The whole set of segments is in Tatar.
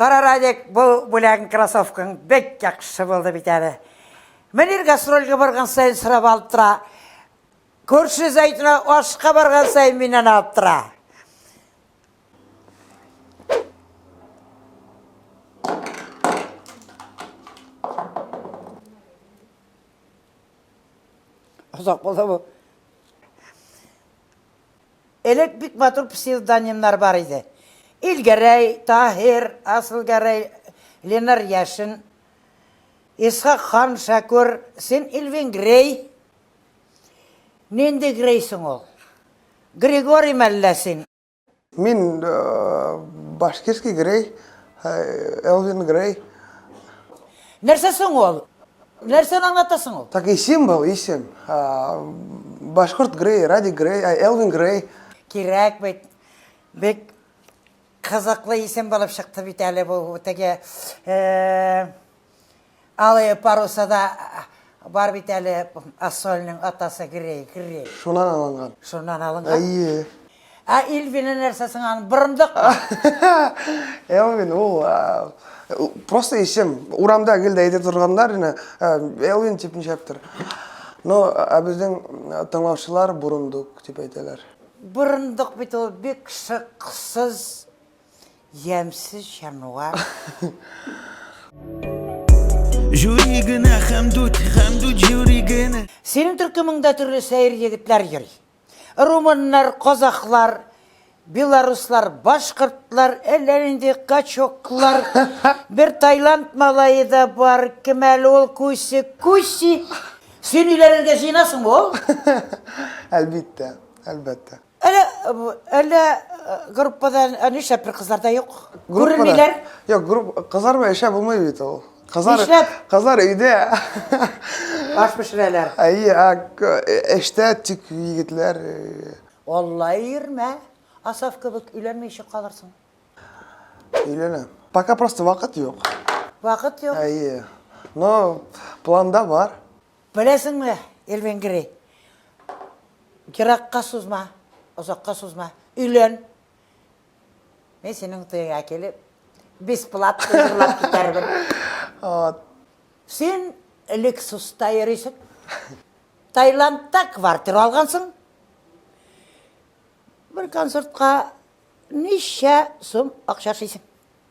Кара, Радик, бу бүләгең кроссовкаң бик яхшы булды бит әле. Мөнир гастрольгә барган саен сорап алып тора. Күрше Зәйтүнә ашка барган саен миннән алып тора. Озак булды бу. Элек бик матур псевдонимнар бар иде. Илгәрәй, Таһир, Асылгәрәй, Ленар Яшин, Исхак хан Шәкүр, син Элвин Грей. Нинди Грей соң ул? Григорий мәллә син? Мин Башкирский Грей, Элвин Грей. Нәрсә соң ул? Нәрсәне аңлата соң ул? Такие символ, исем. Башкорт Грей, Радик Грей, Элвин Грей. Кирәк бит. Бик кызыклы исем булып чыкты бит әле бу теге алые парусада Бар бит әле Ассолның атасы Грей, Грей. Шуннан алынган. Шуннан алынган. Әйе. Ә Элвина нәрсә соң аны борындык? Элвин ул просто исем. Урамда гел дә әйтә торганнар ине, Элвин дип ничәптер. Но ә безнең тыңлаучылар борындык дип әйтәләр. Борындык бит ул бик шыксыз Ямсыз җанвар. Жюри генә хәмдүт, хәмдүт жюри генә. Синең төркемеңдә төрле сәер егетләр йөри. Румыннар, казахлар, белоруслар, башкортлар, әллә нинди качоклар. Бер Таиланд малае да бар, кем әле ул Куси, Куси. Син өйләнергә җыенасыңмы ул? Әлбиттә, әлбәттә. Әле, әле группада нишләп бер кызлар да юк? Күренмиләр? Юк, групп кызлар белән эшләп булмый бит ул. Кызлар, Нишләп? Кызлар өйдә. Аш пешерәләр. Әйе, эштә тик егетләр. Алла ирмә. Асаф кебек өйләнмичә калырсың. Өйләнәм. Пока просто вакыт юк. Вакыт юк. Әйе. Но планда бар. Беләсеңме, Эльвенгри, еракка сузма, озакка сузма, өйлән. Мин синең туеңа килеп, бесплатно җырлап китәрмен. Вот. Син Lexus-та йөрисең. Таиландта квартира алгансың. Бер концертка ничә сум акча эшлисең?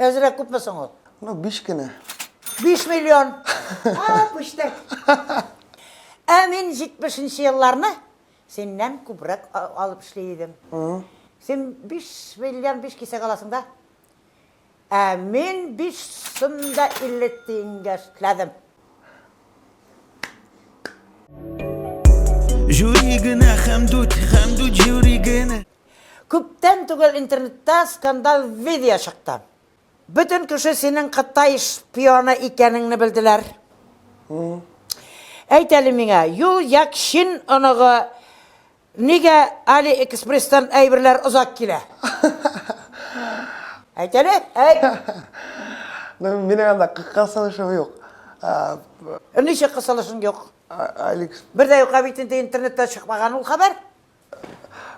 Әзрәк күпме соң ул? Ну, биш кенә. Биш миллион! А, пүчтәк! Ә мин җитмешенче елларны синнән күбрәк алып эшли идем. Син биш миллион биш кисәк аласың да. Ә мин биш сум да илле тиенгә эшләдем. Җури генә, Хәмдүт, Хәмдүт, җури генә. Күптән түгел интернетта скандаль видео чыкты. Бөтен кеше синең Кытай шпионы икәнеңне белделәр. Әйт әле миңа, Юл Як Чин оныгы нигә Али Экспресстан әйберләр озак килә? Әйт әле, әйт! Ну, минем анда кысылышым юк. Ничек кысылышың юк? Бер дә юк, ә бит инде интернетта чыкмаган ул хәбәр.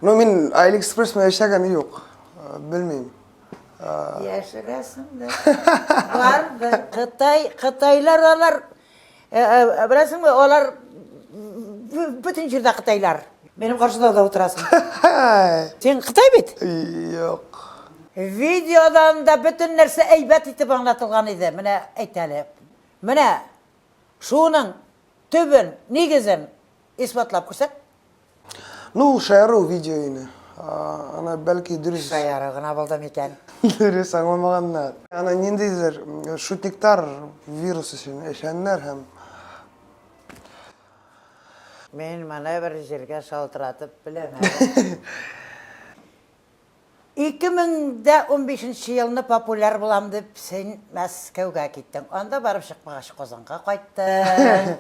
Ну, мин Алиэкспресс менә эшләгәне юк. Э, белмим. Э, Яшерәсең дә. Бардыр. Кытай, кытайлар алар, э, беләсеңме, алар бөтен җирдә кытайлар. Минем каршыда да утырасың. Син кытай бит? Юк. Видеодан да бөтен нәрсә әйбәт итеп аңлатылган иде. Менә әйт әле. Менә шуның төбен, нигезен исбатлап күрсәт. Ну, ул шаяру видео инде. Аны бәлки дөрес... Шаяру гына булды микән? Дөрес аңламаганнар. Аны ниндидер шутниктар вирус өчен эшләннәр һәм... Мин моны бер җиргә шалтыратып беләм әле. Ике мең дә унбишенче елны популяр булам дип, син Мәскәүгә киттең. Анда барып чыкмагач, Казанга кайттың.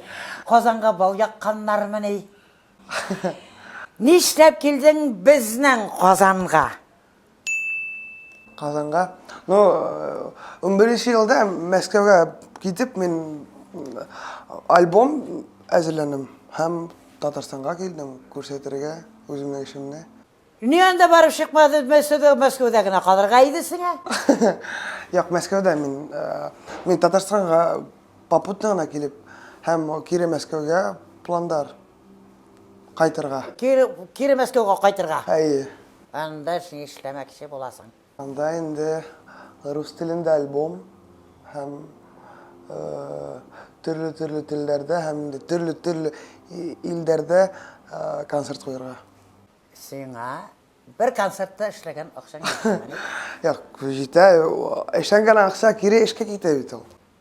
Казанга бал якканнармыни? Нишләп килдең безнең Казанга? Казанга? Ну, унберенче елда Мәскәүгә китеп, мин альбом әзерләдем һәм Татарстанга килдем күрсәтергә үземнең эшемне. Ни анда барып чыкмады, Мәскәүдә, Мәскәүдә генә калырга иде сиңа. Як, Мәскәүдә мин, мин Татарстанга попутно гына килеп, һәм кире Мәскәүгә пландар кайтырга. Кире, кире Мәскәүгә кайтырга. Әйе. Анда син эшләмәкче буласың. Анда инде рус телендә альбом һәм төрле-төрле телләрдә һәм инде төрле-төрле илдәрдә концерт куярга. Сиңа бер концертта эшләгән акчаң җитәме? Юк, җитә. Эшләнгән акча кире эшкә китә бит ул.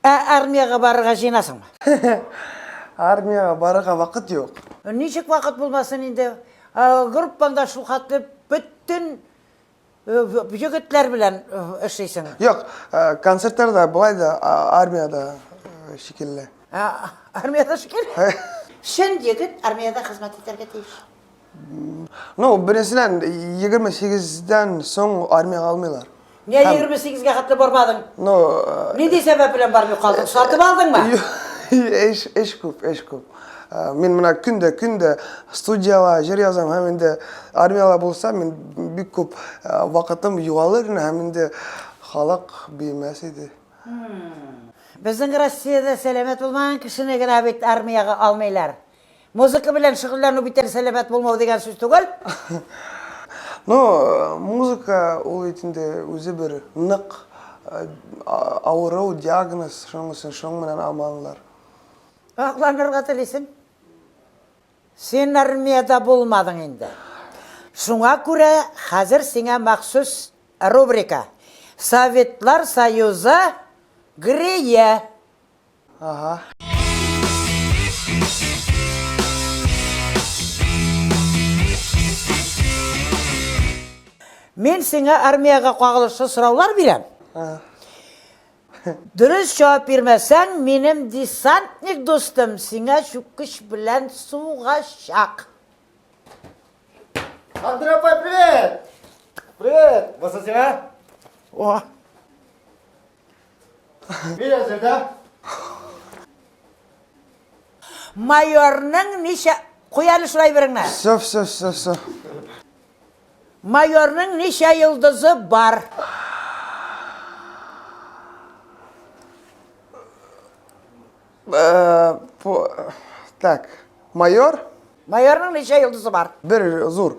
Ә армиягә барырга җыенасыңмы? Армиягә барырга вакыт юк. Ничек вакыт булмасын инде? Группаңда шулхәтле бөтен егетләр белән эшлисең. Юк, концертларда, болай да армиядә шикелле. Армиядә шикелле? Чын егет армиядә хезмәт итәргә тиеш. Ну, беренчедән, 28-дән соң армиягә алмыйлар. Нигә 28-гә хәтле бармадың? Ну, нинди сәбәп белән бармый калдың? Сатып алдыңмы? Эш, эш күп, эш күп. Мин менә көндә, көндә студияла җыр язам һәм инде армияла булса, мин бик күп вакытым югалыр иде һәм инде халык бирмәс иде. Безнең Россиядә сәламәт булмаган кешене генә бит армиягә алмыйлар. Музыка белән шөгыльләнү бит әле сәламәт булмау дигән сүз түгел. Ну, музыка ул бит инде үзе бер нык авыру, диагноз, шуның өчен шуның менән аманлар. Акланырга телисең? Син армиядә булмадың инде. Шуңа күрә хәзер сиңа махсус рубрика, Советлар Союзы грие. Ага. Мен сиңа армияга кагылышлы сораулар бирәм. Дөрес җавап бирмәсәң, минем десантник дустым сиңа чүккеч белән сугачак. Сандра апай, привет! Привет! Баса сиңа? О. Мин әзер дә. Майорның ничә... Куй әле шулай береңне. Все, все, все, все. Майорның ничә йолдызы бар? Э, так, майор? Майорның ничә йолдызы бар? Бер зур.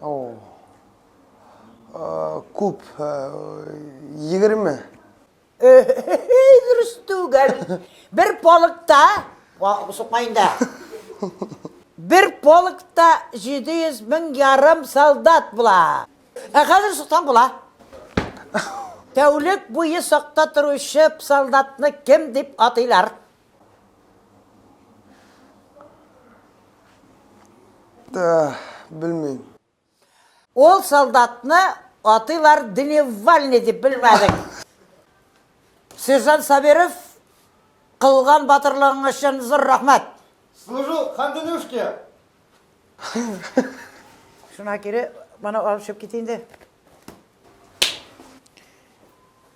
О. Э, күп, э, егерме. Эй, дөрес түгел. Бер полыкта, сукма инде. Бер полыкта 700 мең ярым солдат була. Ә хәзер суктан була. Тәүлек буе сакта торучы солдатны кем дип атыйлар? Да, белмим. Ол солдатны атыйлар дневальный деп белмәдек. Сержант Сабиров кылган батырлыгың өчен зур рәхмәт. Служу хандынушке. Шуна кире, мана алып чыгып кит инде.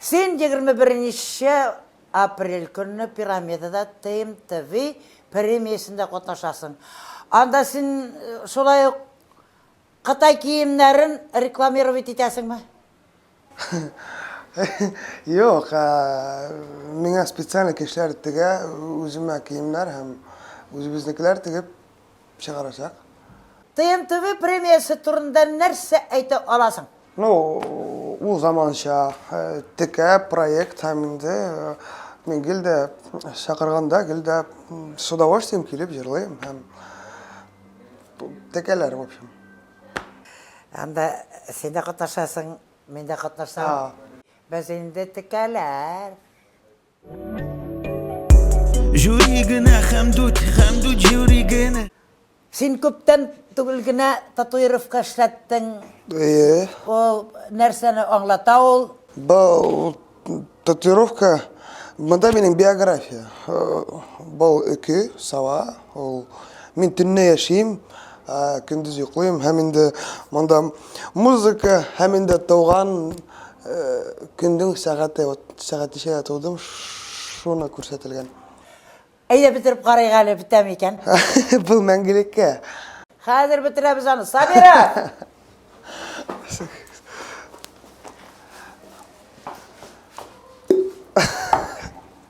Син егерме беренче апрель көнне Пирамидада TMTV премиясендә катнашасың. Анда син шулай ук кытай киемнәрен рекламировать итәсеңме? Юк, миңа специально кешеләр тегә, үземә киемнәр һәм үзебезнекеләр тегеп чыгарачак. ТНТВ премиясе турында нәрсә әйтә аласың? Ну, ул заманча, текә проект һәм инде мин гел дә чакырганда, гел дә с удовольствием килеп җырлыйм һәм текәләр, в общем. Анда син дә катнашасың, мин дә катнашам. Без инде текәләр. Җүри генә хәмдүт, хәмдүт җүри генә. Син күптән түгел генә татуировка эшләттең. Әйе. Ул нәрсәне аңлата ул? Бу татуировка, монда минем биография. Бал өке, сава, Ул мин төнне яшим, көндез йоклыйм һәм инде монда музыка һәм инде туган көндең сәгате, вот сәгатечә тудым, шуны күрсәтелгән. Әйдә бетереп карыйк әле, бетәме икән? Бу мәңгелеккә. Хәзер бетерәбез аны. Сабира!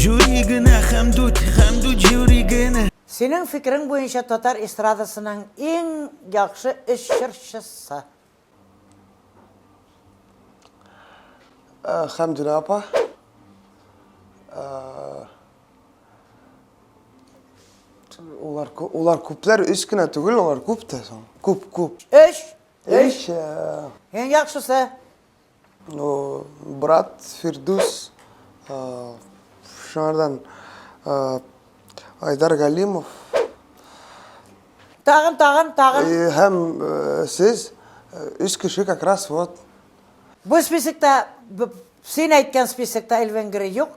Жюри генә хәмдүт, хәмдүт жюри генә. Синең фикерең буенча татар эстрадасының иң яхшы өч җырчысы? Хәмдүнә апа. Улар улар күпләр өч кенә түгел, улар күп тә соң. Күп, күп. Өч? Өч. Иң яхшысы? брат фирдүс шыңардан айдар галимов тагын тагын тагын һәм сез өч кеше как раз вот бұл списокта сен айтқан списокта эльвен грей жоқ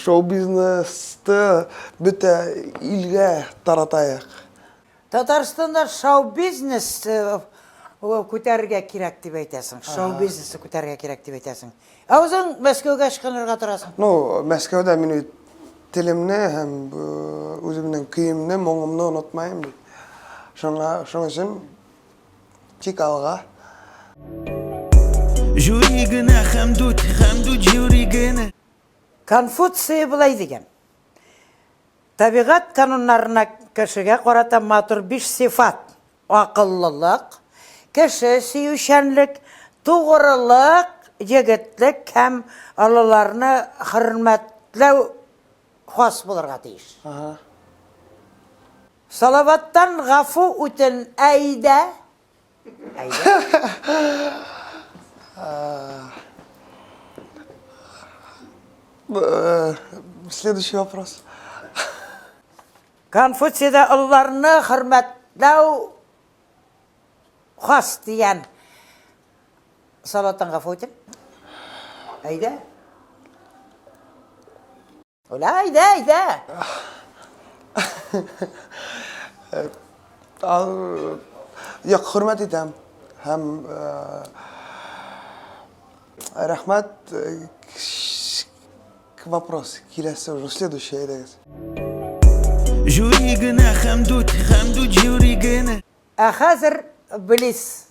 Шоу-бизнесты бөтә илгә таратаек. Татарстанда шоу-бизнес күтәрергә кирәк дип әйтәсең. Шоу-бизнесны күтәрергә кирәк дип әйтәсең. Ә узың Мәскәүгә ычкынырга торасың. Ну, Мәскәүдә мин бит телемне һәм үземнең көемне, моңымны онытмаем бит. Шуңа, шуның өчен. Тик алга. Жюри генә хәмдүт, хәмдүт жюри генә. Конфуция былай дигән. Табигать кануннарына кешегә карата матур биш сыйфат, акыллылык, кеше сөючәнлек, тугрылык, егетлек һәм олыларны хөрмәтләү хас булырга тиеш. Салаваттан гафу үтен Әйдә. Следующий вопрос. Конфуцияда олыларны хөрмәтләү хас дигән. Салаваттан гафу үтен. Әйдә. Уля, әйдә, әйдә! Юк, хөрмәт итәм. Һәм рәхмәт вопрос киләсе уже следующий әйдәгез. Жюри генә хәмдүт, хәмдүт жюри генә. Ә хәзер Близ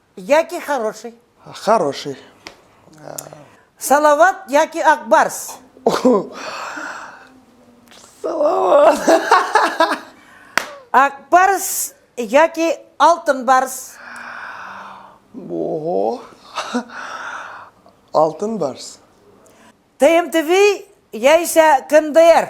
Яки хороший. Хороший. Салават яки Акбарс. Салават. Акбарс яки Алтын барс. Ого. Алтын барс. ТМТВ яисә КНДР.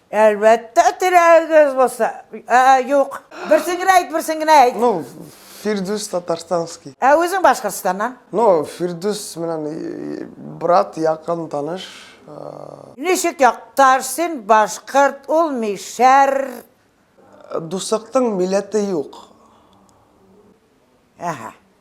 Әлбәттә, теләгегез булса. Ә, юк. Берсен генә әйт, берсен генә әйт. Ну, Фирдүс Татарстанский. Ә үзең Башкортстаннан? Ну, Фирдүс менән брат, якын таныш. Ничек якташ, син башкорт, ул мишәр. Дусактың милләте юк. Әһә.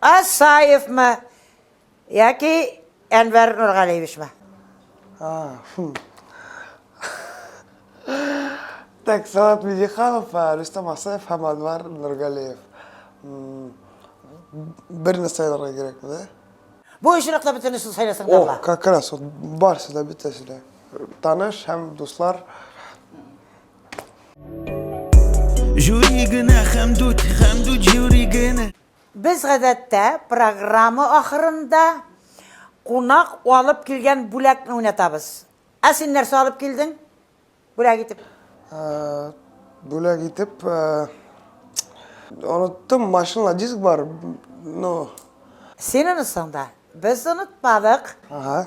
Асаевмы? Яки Әнвәр Нургалиевичмы? Так, Салат Медиханов, Рустам Асаев һәм Анвар Нургалиев. Бер нәрсә сайларга кирәкме, да? Бу очракта бөтенесе сайласаң да була. О, как раз, барсы да бөтәсе дә. Таныш һәм дуслар. Жюри генә хәмдүт, хәмдүт жюри генә. Без гадәттә программа ахырында кунак алып килгән бүләкне уйнатабыз. Ә син нәрсә алып килдең? Бүләк итеп. Бүләк итеп, оныттым, машинала диск бар, но... Син онытсаң да, без онытмадык. Ага.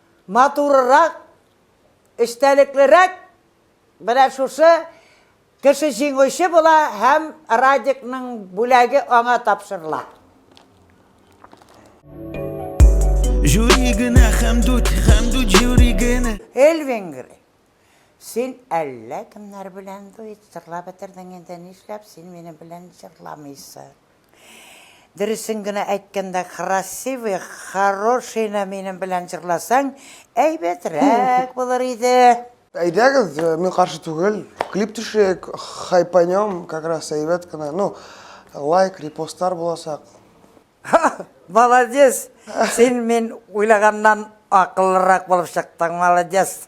Матурырак, эчтәлеклерәк менә шушы кеше җиңүче була һәм Радикның бүләге аңа тапшырыла. Жюри генә хәмдүт, хәмдүт жюри генә. Эль Венгри, син әллә кемнәр белән дуэт җырлап бетердең инде, нишләп син минем белән җырламыйсың? Дөресен генә әйткәндә, красивый, хорошийны минем белән җырласаң, әйбәтрәк булыр иде. Әйдәгез, мин каршы түгел. Клип төшерик, хайпанем, как раз әйбәт кенә. Ну, лайк, репостлар булачак. Молодец! Син мин уйлаганнан акыллырак булып чыктың, молодец!